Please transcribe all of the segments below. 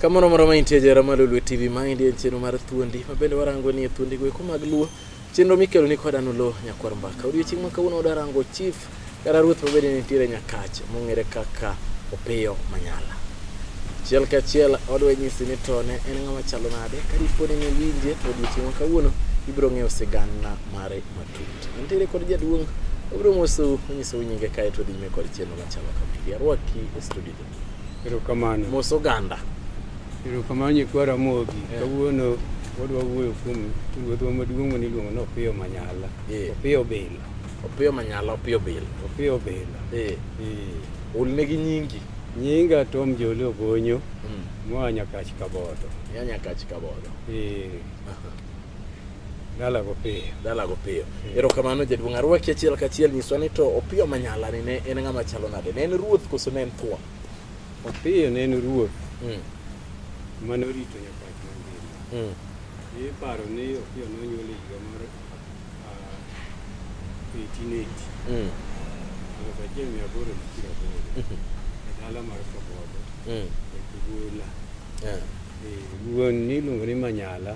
Kamoro moro ma intie jera ma Lolwe TV ma indie chenro mar thuondi ma bende warango ni e thuondi go eko mag luo chenro mikelo ni koda nulo nyakwar mbaka odiochieng' ma kawuono wadarango chief kata ruoth ma bende nitiere nyakach mong'ere kaka opiyo manyala achiel ka achiel odwa nyisi ni tone en ng'ama chalo nade ka dipo ni niwinje to odiochieng' ma kawuono ibiro ng'eyo sigana mare matut nitiere kod jaduong' obiro mosou onyisou nyinge kae to dhi nyime kod chenro Chabakapili arwaki e studio. Erokamano. Mos oganda. Erokamano nyikwa Ramogi. Yeah. Kawuono wadwa wuoyo kuom ruodhwa maduong' mane iluongo ni Opiyo Manyala. Yeah. Opiyo Bila. Opiyo Manyala, Opiyo Bila. Opiyo Bila. Eh. Yeah. Yeah. Olne gi nyingi. Nyinga Tom Joli Ogonyo. Mm. Moa Nyakach Kabodo. Ya Nyakach Kabodo. Eh. Yeah. Dalago piyo. Dalago piyo. Hmm. Erokamano jaduong' arwaki achiel kachiel nyiswa ni to Opiyo Manyala ni ne en ng'ama chalo nade? Ne en ruoth koso ne en thuon? Opiyo ne en ruoth hmm. mane orito nyapach mangima. Iparo hmm. ni Opiyo nonyuol e higa mar 1880. Ah, Aluf achiel mia aboro gi piero aboro e dala mar Kabogo e Kigula. Eh, wuon ni iluongo ni Manyala.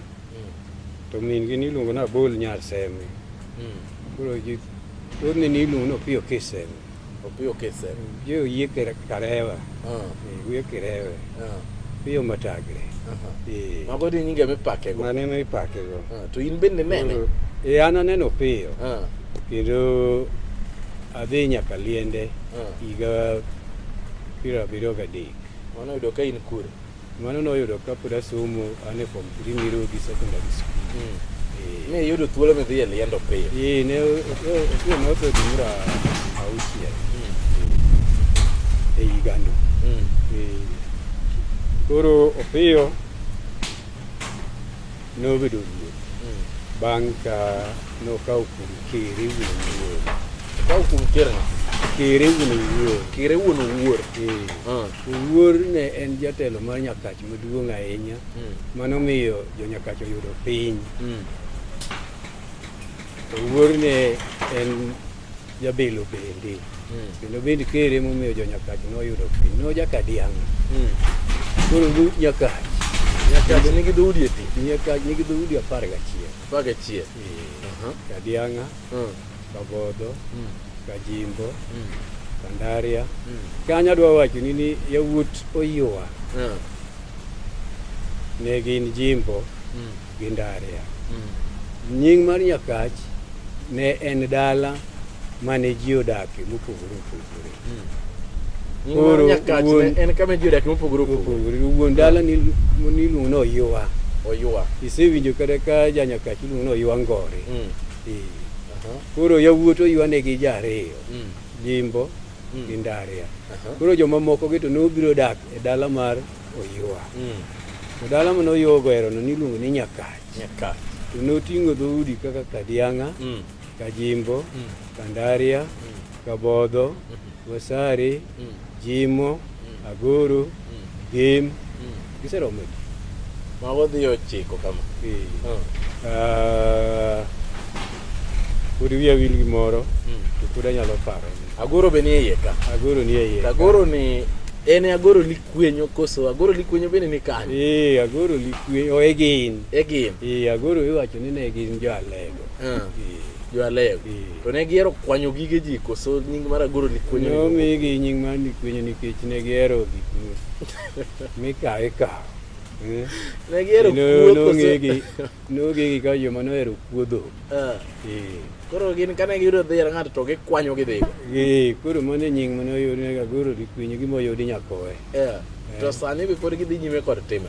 to min gi niluongo na bol nyar semi hmm. koro ji to ni niluongo no pio kisemi opio kisemi je oyie karewa ah. eh, wiye kirewe ah. pio matagre eh. mago ni nyinge mipake go mane mipake go ah, to in bende nene e an aneno piyo kendo adhi nyaka liende higa piero abiriyo gadek mano yudo ka in kure Mano noyudo ka pod asomo an e form three Mirugi Secondary School. Mm. Eh. Ne iyudo thuolo midhi e liendo piyo? Eh, ne otuo ne otho gimura auchiel mm. eh, e higano. Mm. Eh, koro Opiyo nobedo ruoth mm. bang' ka nokawo kuom kere wuon wuor. Okawo kuom kere? Kere wuon wuor. Kere wuon wuor. Eh. Ah. Owuor ne en jatelo mar Nyakach maduong' ahinya mm. mano miyo jo-Nyakach oyudo piny. Mm. Owuor ne en jabelo bende mm. kendo bende kere momiyo jo-Nyakach noyudo piny no jakadianga mm. koro Nyakach Nyakach nigi dhoudi adi? Nyakach nigi dhoudi apar gachiel. Apar gachiel. Kadianga. Mm. Kabodo, mm. Kajimbo, mm. Kandaria. Mm. Kanya dwa wacho ni ni yawuot Oyua. Mm. Ne gin Jimbo mm. gi Ndaria. Mm. Nying mar Nyakach ne en dala mane ji odakie mopogore opogore. Mm. Koro wuon en kama ji odakie mopogore opogore. Wuon dala ni niluongo ni Oyua. Oyua. Isewinjo kata ka janyakach iluongo ni Oyua Ngori. Mm. Koro yawuot oywane gi ji ariyo, mm. Jimbo mm. gi Ndaria. Koro jomamoko gi to nobiro dak e dala mar Oywa. Mm. To dala mane Oywa ogerono niluongo ni Nyakach. To noting'o dhoudi kaka Kadiang'a, Kajimbo, Kandaria, Kabodho, mm-hmm. Wasari, mm. Jimo, mm. Aguru, mm. Gim, mm. giseromo ji. Ma wadhi ochiko kama. Ee. Oh. Uh, pod wiya wil gi moro mm. to pod anyalo paro. Aguru be nie iye ka. Aguru nie iye. Aguru ni en e agoro likwenyo koso agoro likwenyo bende ni kanye? Ee, agoro likwenyo, o oh, egin. Egin. Ee, agoro iwacho ni ne gin jo Alego. Ah. jo Alewi Eh. to ne gihero kwanyo gige ji koso nying mar agoro ne nikwenyo omigi nying mar nikwenyo nikech ne gihero gik mi- mikawo ikawo Eh. ne gihero Kendo kuo koso nong'egi nong'egi ka joma nohero kuo dhok Ah. Eh. koro gin kane giyudo dhi yar ng'ato to gikwanyo gidhigo Eh, koro mano e nying mane oyudi ne gagoro dikwenyo gima oyudi nyakowe Eh. to sani be pod gidhi nyime kod timno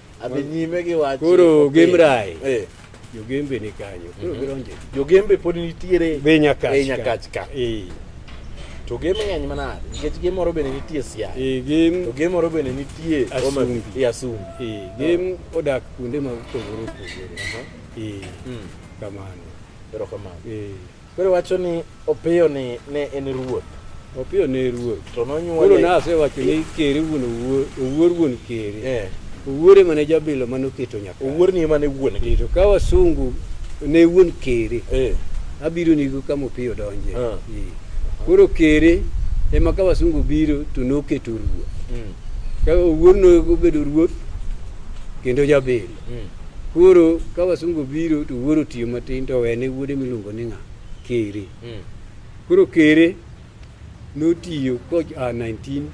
Adhi nyime gi wach. Koro Gemrai. Eh. Jogembe ni kanyo. Koro mhm. gidonje. Jogembe pod nitiere. Be nyakach. Be nyakach ka. Eh. To gem ng'eny manade nikech gem moro bende nitie Siaya. Eh, gem to gem moro bende nitie Asumbi. E Asumbi. Eh, gem ah. odak kuonde ma opogore opogore. Eh. Hmm. Kamano. Erokamano. Eh. Koro wacho ni Opiyo ni ne en ruoth. Opiyo ne ruoth. To nonyuole. Koro nasewacho ni kere wuon owuor, owuor wuon kere. Eh. Owuor ema ne jabilo mane oketo nyaka. Owuor ni ema ne wuon. Eh, to ka wasungu ne wuon kere. Eh. Abiro nigo kama Opiyo donje. Ah. Eh. Koro kere ema ka wasungu biro to noketo ruoth. Mm. Ka owuor nobedo ruoth kendo jabilo. Hmm. Koro ka wasungu biro to wuoro tiyo matin to wene wuode miluongo ni ng'a kere. Hmm. Koro kere notiyo ko a 1906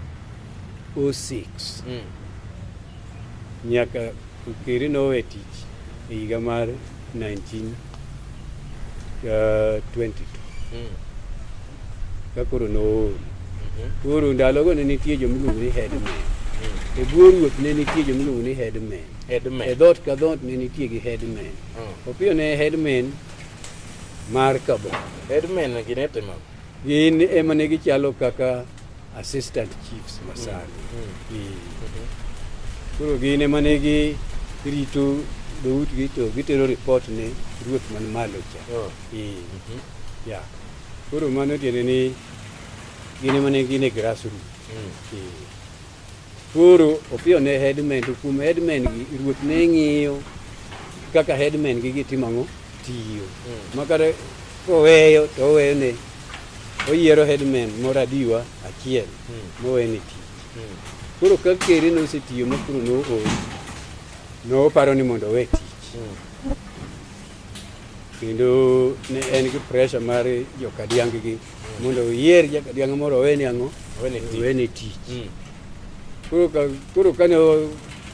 nyaka kere nowe tich e higa mar 1922 ka koro nool koro ndalogo ne nitie jomiluongo ni headman e bwo ruoth ne nitie jomiluongo ni headman Headman. E dhoot ka dhoot ne nitie gi headman. Mm. Opiyo ne headman mar Kabon. Headman gi ne timo. Gin ema ne gichalo kaka assistant chiefs masani. Mm. Mm. E. Mm-hmm. Koro gin ema ne gi rito dhoutgi to gitero report ne ruoth man malo cha. Oh. E. Mm-hmm. Yeah. Koro mano tiende ni gin ema ne gin e grassroots. Mm. E. Koro Opiyo ne headman to kuom headman gi ruoth ne ng'iyo kaka headman gi gitimo ang'o tiyo hmm. makata koweyo to oweyo ne oyiero headman moro adiwa achiel hmm. mowene tich hmm. koro ka kere ne osetiyo ma koro nool noparo ni mondo owe tich kendo ne en gi pressure mar jokadiang gi mondo oyier jakadianga moro oweni ang'o oweni tich mm. koro kane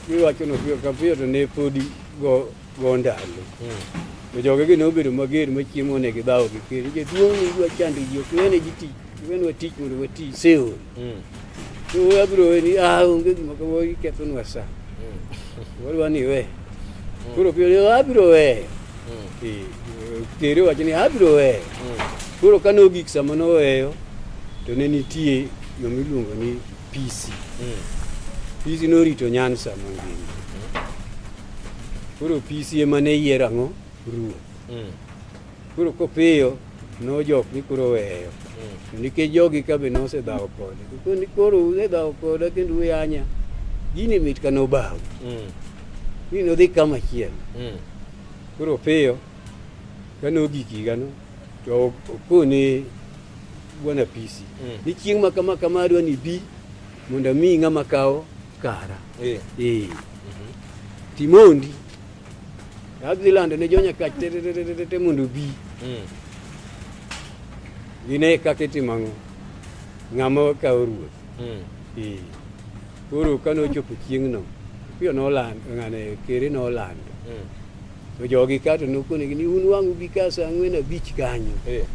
iwachono piyo ka piyo to ne podi go ndalo mm. to jogegi ne obedo mager machiemo ne gidhawo gi keri jaduong' ne idwa chando ji ok wene ji tich wenwa tich mondo wati seol mm. Abiro ni ah onge gima kama ikethonwa sa. Wadwa ni we. Koro piyo ni abiro we. Eh, Tere wacho ni abiro we. Koro ka nogik sama noweyo to ne nitie yo miluongo ni PC. PC norito Nyansa mangima. Koro PC ema ne yiero ang'o? Ruoth. Koro kopiyo nojok ni koro weyo mm. nikech jogi ka be nosedhawo kode koni koro usedhawo koda kendo uyanya gini mit ka nobaw mm. ni nodhi kama chiel mm. koro piyo ka nogik higano to okoni bwana apisi mm. ni chieng' ma kama kama adwa ni bi mondo mi ng'ama kawo kara eh. Eh. Mhm. timondi Adhi lando ne jonya kach te mondo bi. Mm. Gine kaka itimo ang'o. Ng'ama okawo ruoth. Mm. Ee. Koro kane ochopo chieng'no, piyo nolando, ng'ane kere nolando. Mm. To jogi kato nokonegi ni un wang'u bi ka sa ang'wen abich kanyo. Ee.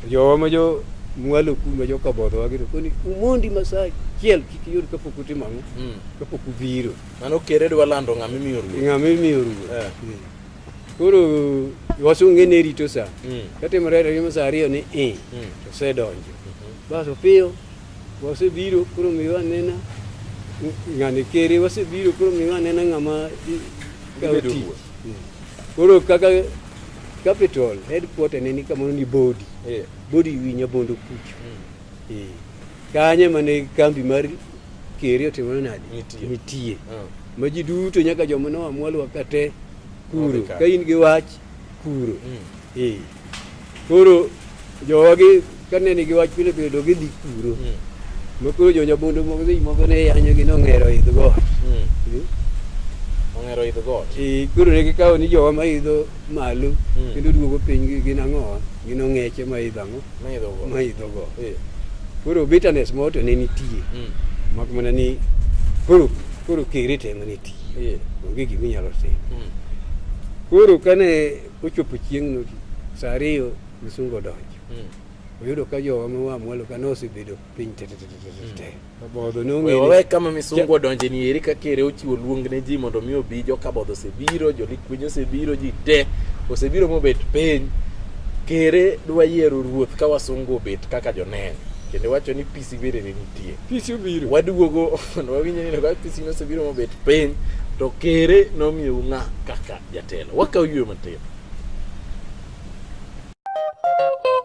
Jowa ma jo mwalo kuma jo kabodho wagito koni umondi masachiel kik yud kapok utimo ang'o. Mm. Kapok ubiro. Mano kere dwa lando ng'ama imiyo ruoth. Ng'ama imiyo ruoth. Eh. Hmm. Koro wasunge ne rito sa. Hmm. Katimore remo sa ariyo ni i. Hmm. To se donjo. Mhm. Bas opiyo wasebiro koro miwa anena ng'ani kere wasebiro koro miwa anena ng'ama kawo tich. Koro kaka capital headquarter ne ni kamoro ni body. Yeah. Body winyo bondo kucho. Mm. Eh, Kanye mane kambi mar keri otimore nade? Nitie. Nitie. Ah. Ma ji duto nyaka joma noa mwalwa ka te kuro. Odhi ka. Ka in gi wach kuro. Mm. Eh. Koro jowa gi kane nigi wach pile pile do gidhi kuro. Mm. Ma koro jo nyabondo moko seche moko ne yanyo gi nong'ero idh got. Mm. Eh. Ong'ero idh got. Eh, Koro ne gikawo ni jowa ma idho malo Mm. kendo duogo piny gi- gin ang'o gin ong'eche ma idho ang'o Maidho go. ma idho go Eh. koro bitterness moro to ne nitie Mm. mak mana ni koro koro kere te ema ne tiyo Eh. onge gima inyalo timo Mm. koro kane ochopo chieng'no saa ariyo misungo odonjo Mm. oyudo ka jowa ma wa mwalo ka nosebedo piny tetetetete Kabodho ne ong'ere. Wewe kama misungu odonje ni eri kaka ere ochiwo luong ne ji mondo mi obi jo kabodho osebiro, jo likwiny osebiro, ji te osebiro mobet piny. Kere dwa yiero ruoth ka wasungu obet kaka joneno. Kendo wacho ni pisi bere ne nitie. Pisi obiro. Waduogo mondo wawinje ni ka pisi nosebiro mobet piny to kere nomiyo ng'a kaka jatelo. Wakaw yue matin.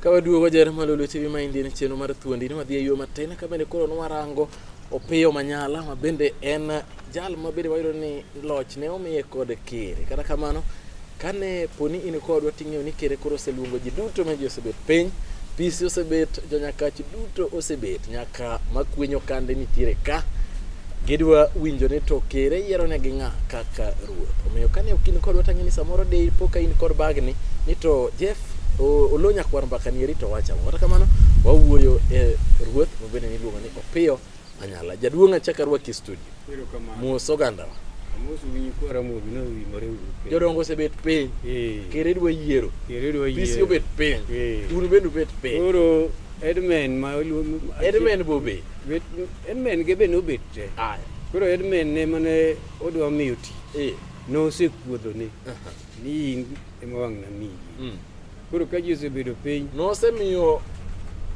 Ka waduogo jere malo lwete bi ma indien chenro mar thuondi ni wadhi e yo matin ka bende koro nwarango Opiyo Manyala ma bende en jal ma bende wayudo ni loch ne omiye kod kere. Kata kamano, kane poni in kodwa ting'eyo ni kere koro oseluongo ji duto ma ji osebet piny, PC osebet, jonyakachi duto osebet, nyaka ka makwenyo kande nitiere ka gidwa winjo ni to kere yiero ne gi ng'a kaka ruoth omiyo kane ok in kodwa tang'e ni samoro de po ka in kod bagni ni to jeff olo nyakwar mbaka ni rito wacha kata kamano wawuoyo e ruoth mabende niluongo ni opiyo anyala jaduong' achaka rwaki e studio mos ogandawa jodongo osebet piny kere dwa yiero pisi obet piny un bende ubet piny Edmen ma oluong Edmen bobe. Edmen ge be nobet te. Aya. Koro Edmen ne mane odwa miyo ti. Eh. Nosekuodho ne. Ni in ema wang' na miyi. Mm. Koro ka ji osebedo piny. Nosemiyo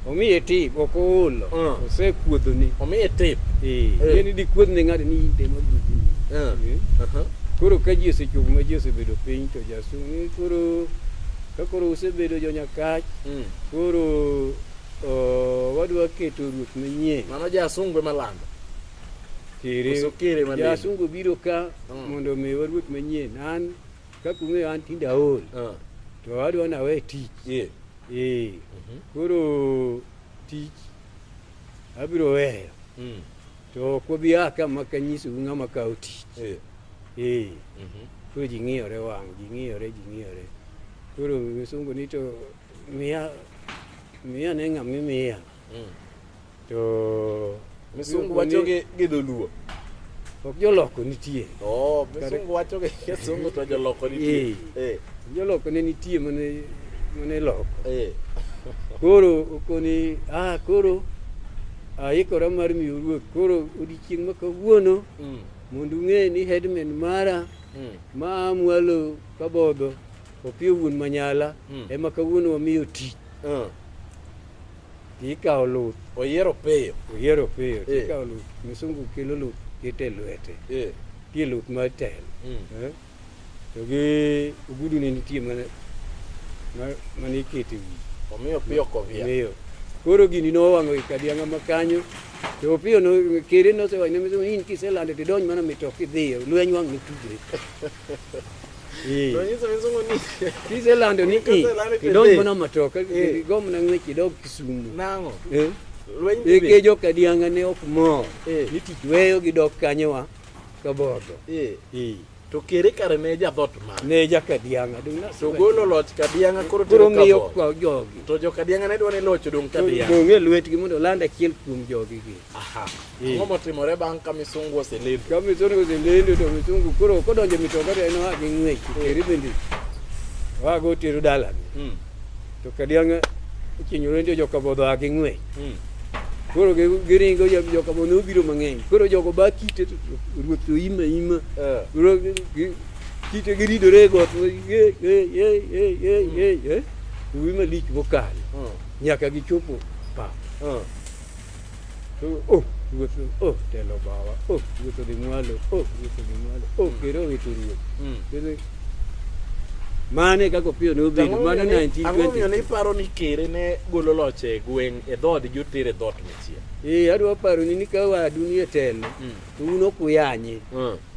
omiye tip ok oolo mm. osekuodho ni omiye tip eh, eh. ni dikuodh ne ng'ato ni inde ma bugi eh. koro ka ji osechopo ma ji osebedo piny to jasunge koro Ka koro usebedo jo Nyakach, mm. koro oh, wadwa keto ruoth manyien. Mano ja Asungwe malando. Kere. Ja Asungwe biro ka mm. mondo mi waruoth manyien. An kaka ung'eyo an tinde aol. Uh. To wadwa nawe tich. Yeah. Eh. Mm -hmm. Koro tich Abiro weyo. Mm. To ok wabi a ka maka nyisou ng'ama kawo tich. Eh. Eh. Mhm. Koro ji ng'iyore wang', ji ng'iyore, ji ng'iyore. Koro misungu ni to miya miya ne ng'ama imiya. Mm. To Misungu wacho gi gi dholuo. Ok joloko nitie. Oh, msungu wacho ke kisungu to joloko nitie. Eh. Joloko ne nitie mane mane loko. Eh. Koro okoni ah koro aikora mar miyo ruoth koro odiechieng' ma kawuono mm. mondo ung'e ni headman mara mm. ma mwalo kabodho opiyo wuon manyala mm. ema kawuono wamiyo tich Ah. to ikawo luth oyiero piyo oyiero piyo to Eh. ikawo luth misungu kelo luth kete lwete Eh. tie luth mar telo Mm. eh? to gi ogudu ne nitie mana ma- mane ikete wi omiyo piyo kovia miyo koro gini nowang'o ikadianga ma kanyo to opiyo no- kere nosewachne misungu ni in kiselande tidonj mana mitoki idhiyo lweny wang' notudre Eh. Unajua mizungu ni hizo la ndio ni eh. kidogo mbona matoka eh. kidogo mna ngwe kidogo kisumu nango eh eke jo kadianga ne ok mo ni tich weyo gi dok kanye wa kaboto eh eh to kere kare ne ja dot ma ne ja kadianga dong na so golo loch kadianga koro to koro ngiyo kwa jogi to jo kadianga ne dwa ne loch dong kadianga dong e lwetgi mondo landa kiel kuom jogi gi Aha. Hey. Ngomo timore bang' ka misungu oselendo. Ka misungu oselendo to misungu koro kodonjo mitoka to en oa gi ng'wech teri bende. Oa go tero dalani. Mm. To kadiang' ichinyore ndio joka bodho a gi ng'wech. Mm. Koro giringo joka bodho obiro mang'eny. Koro jogo ba kite ruoth to ima ima. Uh. Koro kite giridore got. Ye ye ye ye ye ye. Uwi malich mokalo. Mm. Nyaka gichopo pa. Mm. Oh, ruoth, oh, telo bawa, oh, ruoth odhi mwalo, oh, ruoth odhi mwalo, oh, mm. kero wito ruoth. Mm. Mane kaka opiyo ne obedo mano 1920. Ang'omiyo ne iparo ni kere ne golo loch e gweng' e dhood joter e dhoot machielo. Ee, adwa paro ni ka wadu ni e telo, mm. to un ok uyanye.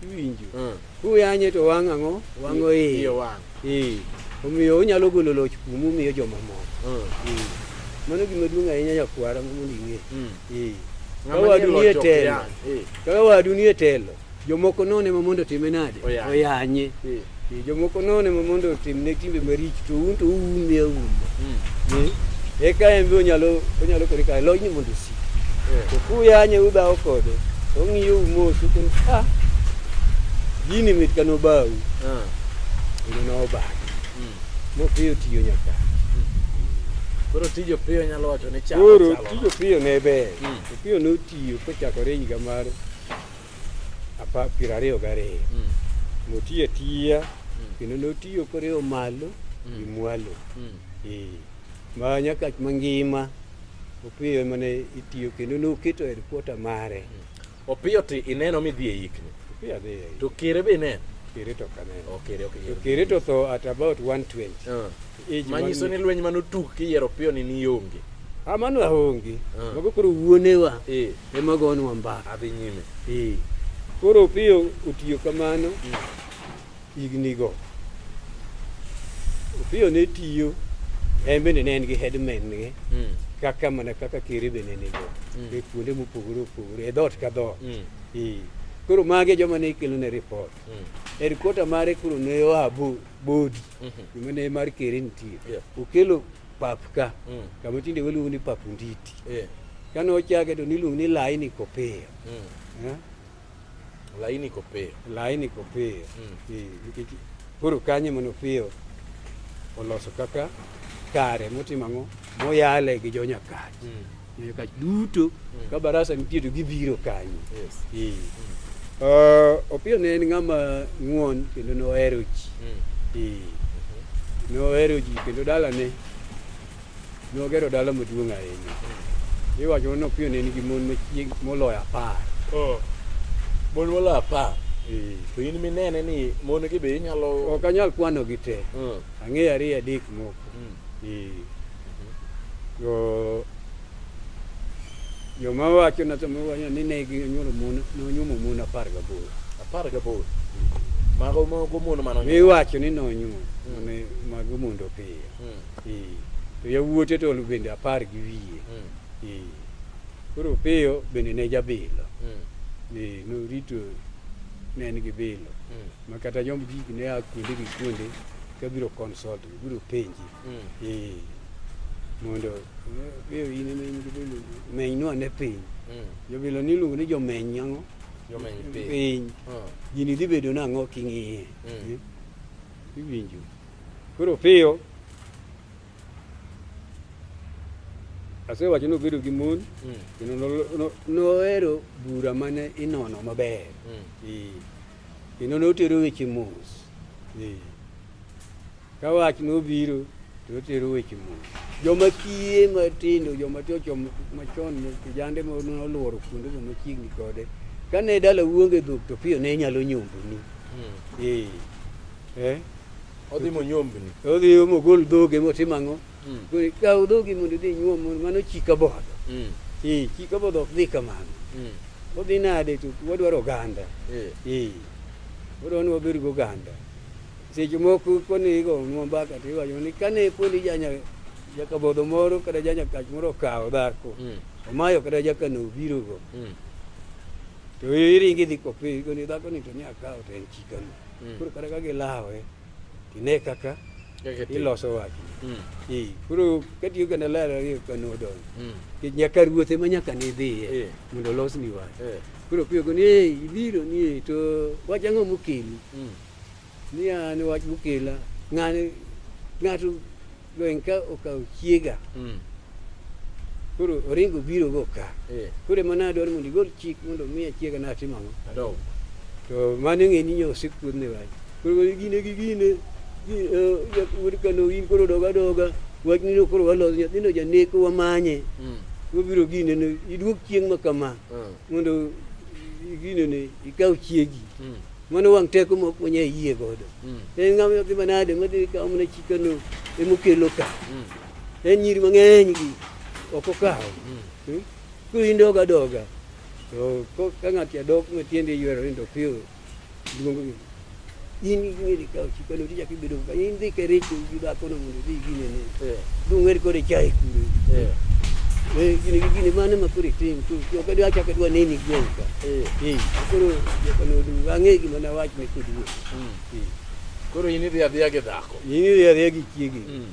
Iwinjo. Kuyanye to wang' ang'o? Wang'o iye. Iye wang'. Ee. Omiyo onyalo golo loch kuomu omiyo jomamoko. Mm. Ee. Mano gima duong' ahinya nyakwara mondo ing'e. Mm. Ee. Ka Ng'ama nie wadu loch nie ok telo, yany. Ee. ka wadu nie telo, jomoko none ma mondo time nade? Oyanye. Oyanye. Ee. Ee, Jomoko none ma mondo otimne timbe maricho to un to uwume awuma. Mm. Ee. Eka en be onyalo onyalo kore kae lojni mondo Kukuyanye uba ukode. Ongiye umusi ukuthi ah yini mithi kanobawu. Ah. Yini noba. Mm. Mopiyo tiyo nyaka. Mm. Koro tijo piyo nyalo wacho ni chako. Koro tijo piyo ne ber. Mm. Piyo notiyo kochakore higa mar apa piero ariyo gariyo. Mm. Motiyo atiya mm. kendo notiyo koriyo malo mm. gi mwalo. Mm. Eh. ma nyaka mangima Opiyo ema ne itiyo kendo noketo headquarter mare. Opiyo ti ineno midhi e yikni. Opiyo adhi e yikni. To Kere be ineno? Kere to ok aneno. Oh, Kere ok ineno. To Kere to tho at about 120. Uh. Ah. Manyiso ni lweny mane otuk kiyiero Opiyo ni nionge. Ah, mano aonge. Uh. Ah. Mago koro wuonewa. Eh. Ema gonwa mbaka. Adhi nyime. Eh. Koro Opiyo otiyo kamano. Mm. hignigo. Opiyo ne tiyo en bende ne en gi headman ne mm. kaka mana kaka kere bende nigo mm. e kuonde mopogore opogore e dhoot ka dhoot mm. koro mage joma ne ikelo ne report headquarter mare koro ne oa bodi mm-hmm. kuma ne mar kere nitie okelo pap ka kama tinde waluongo ni pap nditi kane ochake to niluongo ni laini kopiyo eh? Laini iko piyo. Laini iko piyo. Mm. Koro kanye mono piyo oloso kaka kare motimo ang'o moyale gi jo nyakach mm. nyakach duto mm. ka barasa nitie to gibiro kanyo yes. mm. uh, opiyo ne en ng'ama ng'won kendo nohero ji mm. mm. nohero ji kendo dalane Nogero dala maduong' ahinya. Iwacho ni Opiyo ne nigi mon machieg moloyo apar. Oh. Mon moloyo apar. Eh. To in minene ni mon gi be inyalo ok anyal kwano gi te. Mm. Ang'eyo ariyo adek moko. Mm. Eh. Jo joma wacho na to wacho ni ne ginyuolo mon nonyuomo mon apar gaboro. Apar gaboro. Mago mago mon mano. Iwacho ni nonyuomo. Mm. Mago mondo piyo. mm. eh, to yawuote to bende apar gi wiye mm. eh, koro Opiyo bende ne jabilo mm. eh, norito ne en gi bilo mm. ma kata jomb gigi ne a kuonde gi kuonde ka biro consult biro penji mm. eh, mondo Opiyo eh, in ema in gi bilo meny nwa ne piny mm. jobilo niluongo ni jomeny ang'o jomeny piny gini dhi bedo nang'o king'iye mm. eh, iwinjo Koro piyo asewacho nobedo gi mon mm. kendo nohero bura mane inono maber mm. kendo notero weche mos ka wach nobiro to notero weche mos joma kiye matindo joma tiyo machon kijande noluoro kuonde go machiegni kode kane dala wuonge dhok to piyo ne nyalo nyomboni mm. eh. Odhi monyombni. Odhi mogol dhoge motim ang'o? Mm. Koro kaw dhogi mondo idhi inyuom mondo mano chika bodho. Mm. Ee, chika bodho ok dhi kamano. Mm. Odhi nade to wadwaro oganda. Eh. Ee. Wadwaro ni wabed go oganda. Seche moko koni igo nwa mbaka to iwacho ni kane poni janya jakabodho moro kata janya kach moro okawo dhako. Mm. Omayo kata jakano obirogo. Mm. To iringi dhi kopii koni dhako ni to ni akawo to en chikano. Mm. Koro kata ka gilawe tine kaka iloso wach. Mm. Ee, koro katiyo kendo lero ni kano odong. Mm. Kech nyaka ruoth ema nyaka ni dhiye Ee. mondo olos ni wach. Eh. Koro piyo ko ni "Ee, ibiro ni "Ee, to wach ang'o mokeli? Mm. Ni an wach mokela ng'ani ng'ato Gwenka okawo chiega. Mm. Koro oringo biro go ka. Eh. Koro ema nadwaro mondo igol chik mondo miya chiega natimo ang'o. Adog. To mano ng'e ni nyo osekuodne wach. Koro gine gi gine wuod eh, kano in koro doga doga wach nino koro waloso nyathino janeko wamanye. Mm. Wabiro gine no iduog chieng' ma kama. Mm. Mondo gine ne ikaw chiegi. Mm. Mano wang' teko ma ok wanyal yie godo. Mm. En ng'ama odhi manade madhi kawo mana chikano emokelo ka. Mm. En nyiri mang'eny gi ok okawo. Mm. Hmm? Koro in doga doga. To ka ng'ato adok matiende ywero ni dopiyo duong' in ing'e ni kawo chikano tichak bedo ka in dhi ke rich gi ba kono mondo dhi gine ne eh. du ng'er kore chai kure eh. eh gini gi gini mane ma kore tim tu yo ka dwa chaka dwa nini gwen ka eh eh koro yo ka no du ang'e gima na wach ne kudu hmm. eh. koro in idhi adhiya gi dhako in idhi adhiya gi chiegi hmm.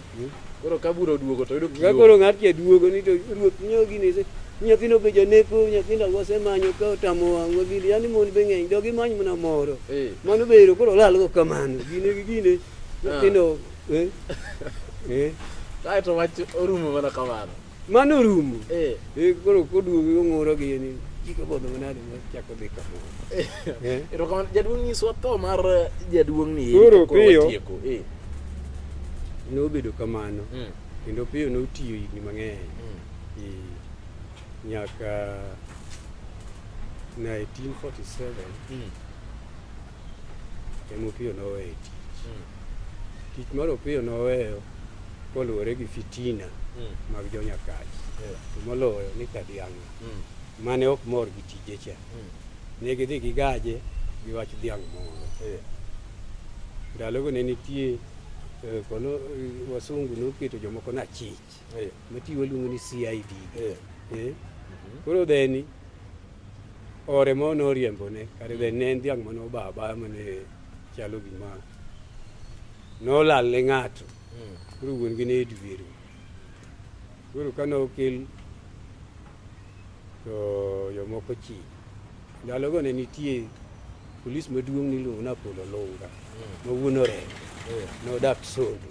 Koro ka bura oduogo to yudo Ka koro ng'at cha duogo ni to ruoth nyo gini se. Nyathino be janeko, nyathindo wasemanyo ka otamo wang'wa gini. Yani mon be ng'eny, dogi many mana moro. Eh. Mano be ero koro olalgo kamano. Gine gi gine. Nyathindo, eh? Eh? Kae to wach orumo mana kamano. Mano orumo. Eh. Eh, Koro koduogo ong'uro gi ni chiko bodho manade ma chako dhi ka bor. Eh. Erokamano jaduong' nyiswa tho mar eh, jaduong' ni Koro piyo. watieko. Eh. Nobedo kamano Mm. kendo piyo notiyo higni mang'eny. Mm. Eh, Nyaka 1947 Mm. ema Opiyo noweyo tich. Hmm. Tich mar Opiyo noweyo koluwore gi fitina hmm. mag jonyakaji to moloyo ni Kadiang'a hmm. mane ok mor gi tije cha ne gidhi gigaje gi wach dhiang' moro ndalogo ne nitie eh, kono eh, wasungu noketo jomoko na chich eh. mati waluongo ni CID eh. eh. mhm. koro dheni ore ma noriembone kare dheni ne en dhiang' mane oba abaya mane chalo gima nolal ne ng'ato hmm. koro wuon gi ne edwero koro kane okel to jomoko chi ndalogo ne nitie polis maduong' niluongo ni Apolo Lunga hmm. ma wuon orem hmm. nodak Sondu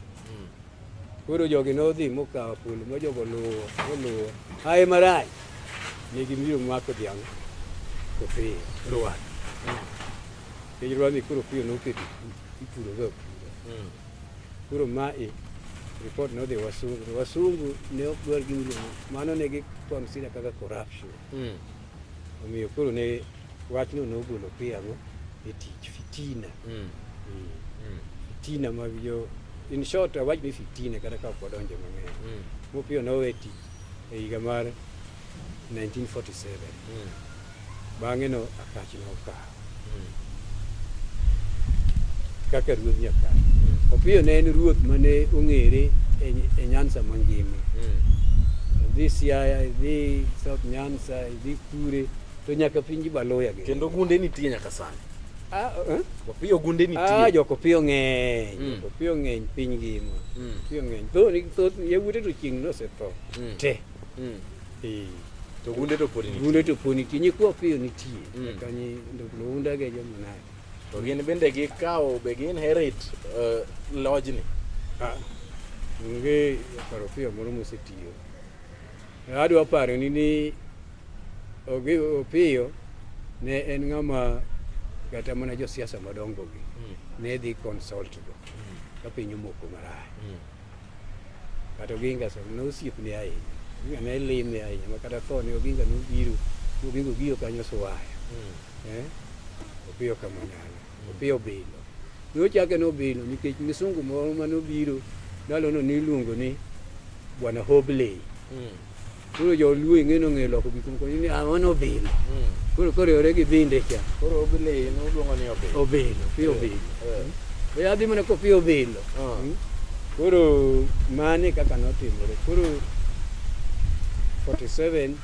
Koro jogi nodhi mokawo polo ma jogo luwo oluwo aye marach ne gibiro mako dhiang' to piyo rwar kech rwani koro piyo noketo ipuroga opuro hmm. koro mae ripot nodhi wasungu wasungu ne ok dwar gimilimo mano ne gi consider kaka corruption hmm. Omiyo koro ne wachno nogolo Piago e tich fitina. Mm. Mm. Mm. Fitina mag jo in short awach ni fitina kata ka ok wadonje mang'eny. Mm. Mopio nowe tich e higa mar 1947. Mm. Bang'e no akach nokawo. kaka ruodh Nyakach. Opiyo ne en ruoth mane ong'ere e- e Nyanza mangima. Idhi Siaya, idhi South Nyanza, idhi Kure, to nyaka pinji Baloya gi. Kendo gunde nitie nyaka sani. Ah, eh? Opiyo gunde Ah, nitie. jokopiyo ng'eny, Mm. jokopiyo ng'eny piny ngima. Mm. Opiyo ng'eny. Thoth thoth yawuote to chieng' nosetho Mm. te. mm. eh. to gunde to pod gunde to pod nitie nyikwa piyo nitie mm. kanyi ndounda ge jomo naye to gin bende gikawo be gin herit uh, eh, lojni ah. onge paro piyo moro mosetiyo adwa paro ni ni opiyo ne en ng'ama kata mana josiasa madongogi mm. ne dhi consultgo mm. ka piny omoko maraya mm. Kata Oginga sama ne osiepne ahinya, Oginga ne lime ahinya ma kata thone Oginga nobiro, Oginga ogiyo kanyo suwaya. Eh? Opiyo Kamanyala, Opiyo Bilo. Nochake nobilo nikech misungu moro manobiro ndalono niluongo ni Bwana Hobley. Koro joluo ing'e nong'eyo loko gik moko ni ah, mano obilo. Koro koriwore gi binde cha. Koro obilo e inu luongo ni obilo. Obilo, pi obilo. Eh. Be adhi mana ko pi obilo. Ah. Mm. Koro mano e kaka notimore. Koro 47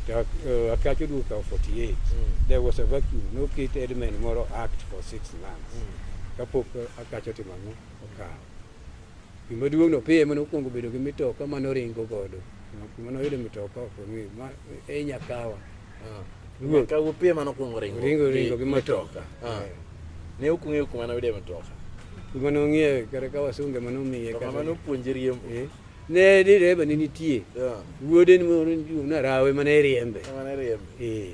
to uh, Akacho Duke of 48. Mm. There was a vacuum. No kit Edmund Moro act for six months. Mm. Kapok uh, Akacho timo ang'o? Okawo. Gima duong' no piye mane okuongo bedo gi mitoka mane oringo godo. Kuma noyudo mitoka ok ong'eyo. Ma e Nyakawa. Ah. Ruoth. Ka upiye mane okuongo ringo. Ringo ringo gi mitoka. Ah. Eh. Ne ok ung'eyo kuma noyude mitoka. Kuma nong'iewe kata ka wasunge mane omiye. To kama nopuonje riembo. Eh. Ne ni reba ne nitie. Yeah. Wuode ni moro nitie na rawe mane riembe. Mane riembe. Eh.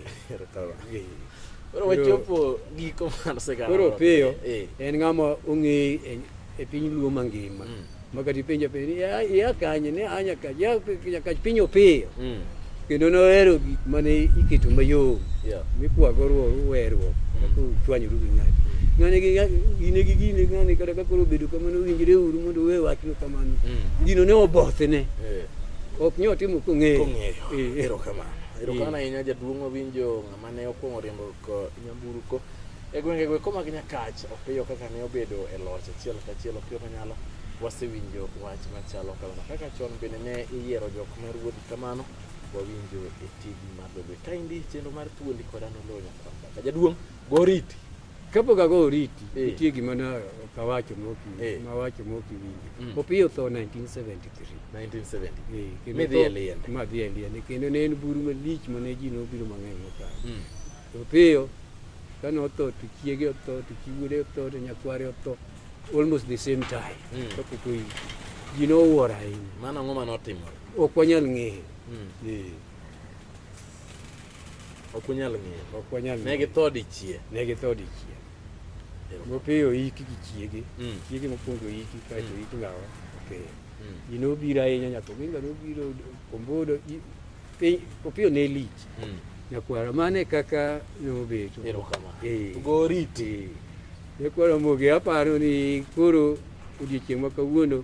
Koro wachopo giko mar sigana. Koro piyo. Eh. En ng'ama ong'e e piny Luo mangima. Mm. Makati penja penja ya ya kanye ne anya ka ya ka piny opiyo. Mm. kendo nohero gik mane iketo mayom Yeah. mikwago ruo- weruok kaka uchwanyoru gi ng'ato ng'ane gi gine gi gine ng'ane kata ka koro obedo kamano winjre uru mondo uwe wachno kamano Mm. gino ne obothene Eh, ok nyo timo kong'eyo kong'eyo Eh, eh. erokamano erokamano ahinya jaduong' owinjo ng'ama ne okwongo riembo ko- nyamburko e gwenge go koma gi nyakach opiyo kaka ne obedo e loch achiel kachiel opiyo manyalo wasewinjo wach machalo kamano kaka chon bende ne iyiero jok ma ruodh Kamano wawinjo e tij mar lobe. Kaendi chenro mar thuondi koda noloo nyakwamba. Ka jaduong' go oriti. Kapok ago oriti, Eh. nitie gima na ok awacho mok Eh. iwinjo, mawacho mok iwinjo. Mm. Opiyo tho 1973. 1970. Eh, kendo Midhi tho- e liende. Madhi e liende. Kendo ne en buru malich ma ne ji nobiro mang'eny mokalo. Mm. Opiyo kane otho to chiege otho to chi wuode otho to nyakware otho almost the same time. Mm. Kapok oyiki. Ji nowuoro ahinya. Mano ang'o mane otimore? Ok wanyal ng'eyo. Mm. Eh. Ok unyal ng'eyo. Ok wanyal ng'eyo. Ne githo dichie. Ne githo dichie. Mopiyo iki gi chiege. Mm. Chiege mokwongo iki kaeto mm. iki lawa. Okay. Mm. Ji nobiro ahinya nyaka Oginga nobiro Kombodo piny Opiyo ne lich. Mm. Nyakwara mano e kaka nobedo. Erokamano. Eh. Goriti. Eh. Nyakwara Mogi aparo ni koro odiechieng' ma kawuono